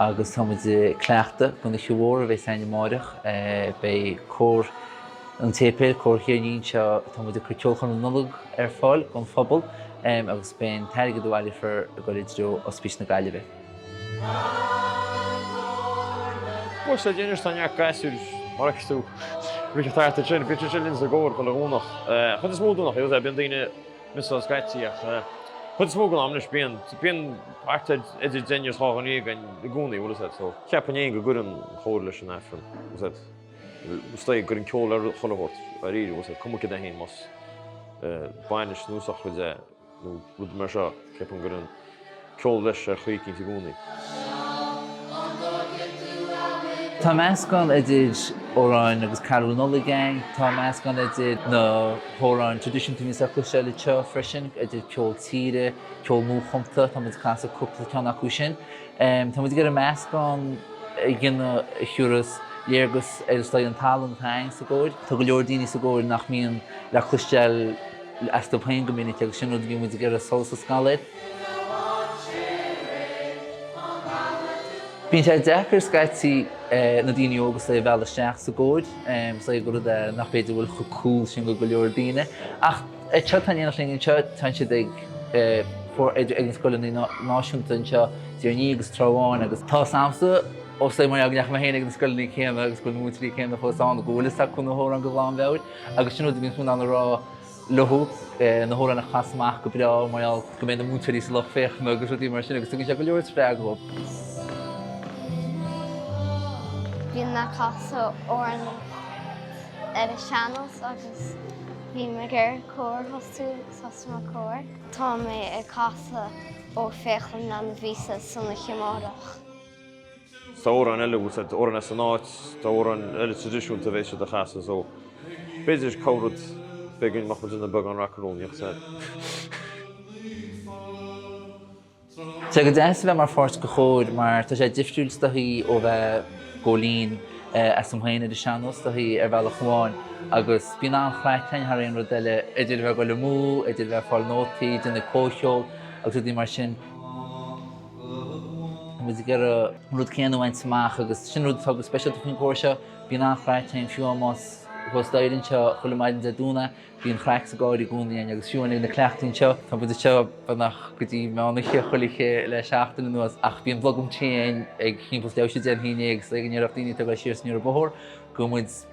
Agus tá muid ag cleachtadh don oíche mhór a bheas ann amáireach. Beidh Cór an tSéipéil, Cór Thír an Fhia anseo, tá muid ag cur ceolchoirm na Nollag ar fáil don phobal agus beidh an t-airgead a bhaileofar ag dul i dtreo Ospís na Gaillimhe. Cór sinsear a bhíonns ann, neart gasúir mar a fheiceas tú. Bhí siad thart ansin, bíonn siad ansin linn sa gcór, chuile Dhomhnach. An chuid is mó Domhnach, bíonn daoine. scaití, ach an chuid is mó den am leis, bíonn, bíonn thart ar idir deichniúr is dháréag againn i gcónaí, bhuel, is é, so, ceapaim fhéin go gcuireann cór leis an Aifreann, is é, is dóigh, go gcuireann ceol le chuile shórt, dháiríre, is é, cuma céard é fhéin, más bainis nó sochraid é, nó rud mar seo, ceapaim go gcuireann. ceol leis ar chaoi eicínt i gcónaí. Tá meascán idir amhráin agus carúil Nollag ann. Tá meascán idir na hamhráin traidisiúnta agus eaglasta le cloisteáil freisin, idir ceol tíre, ceol nuachumtha, tá muid ag casadh cúpla ceann acu sin. Tá muid ag iarraidh meascán a dhéanamh a thabharfas léargas ar an talann atá againn sa gcór. Tá go leor daoine sa gcór nach mbíonn le cloisteáil. astu féin go minic agus sin rud a bhíonn muid ag iarraidh solas a scaladh air. Bíonn sé deacair scaití na daoine óga a mhealladh isteach sa gcór, rud nach, b'fhéidir, a bhfuil chomh cool sin do go leor daoine, ach anseo tá an t-ádh linn anseo, tá siad ag na scoileanna náisiúnta anseo, Tír an Fhia agus an Trá Bháin, agus tá sampla os a gcomhair, go ndeachaigh mé féin ag na scoileanna céanna agus go bhfuil na múinteoirí céanna fós ann, go bhfuil fhios acu na hamhráin de ghlanmheabhair. Agus sin rud a bhíonn tú in ann a rá leo, na hamhráin a chas amach go breá mar gheall go mbeidh na múinteoirí sa lucht féachana agus rudaí mar sin agus tugann sé go leor spreagadh dóibh. Bímse ag casadh amhráin ar an sean-nós agus níl mé ar chor ar bith cosúil leis an gcór. Tá mé ag casadh Óchón a bhíonns ann san oíche amárach. is amhráin eile a úsáid, is amhráin as an áit, is amhráin eile traidisiúnta a bheidh siad a chasadh. So, b'fhéidir corr-rud eicínt a mbeadh muid ina, beagán macarónaíocht. Tá sé go deas a bheith mar pháirt de chór mar tá sé difriúil is dóigh ó bheith ag gabháil fhoinn asat fhéin ar an sean-nós is dóigh ar bhealach amháin agus bíonn an-chraic ann thar aon rud eile, idir bheith ag goil amú, idir bheith ag fáil nótaí, déanamh comhcheol agus rudaí mar sin. muid ag iarraidh an rud céanna a bhaint amach agus sin rud atá go speisialta faoin chór seo. Bíonn an-chraic ann, fiú má tá muid thuas staighre anseo chuile maidin Dé Domhnaigh, bíonn craic sa gcór i gcónaí ann agus fiú amháin ag na cleachtaí anseo, tá muid anseo beagnach go dtí meán oíche chuile oíche le seachtain anuas ach bíonn blogam tae ann ag timpeall leath tar éis a deich agus déanfaidh mé agus ag an deireadh daoine ag tabhairt siar is aniar an bóthar go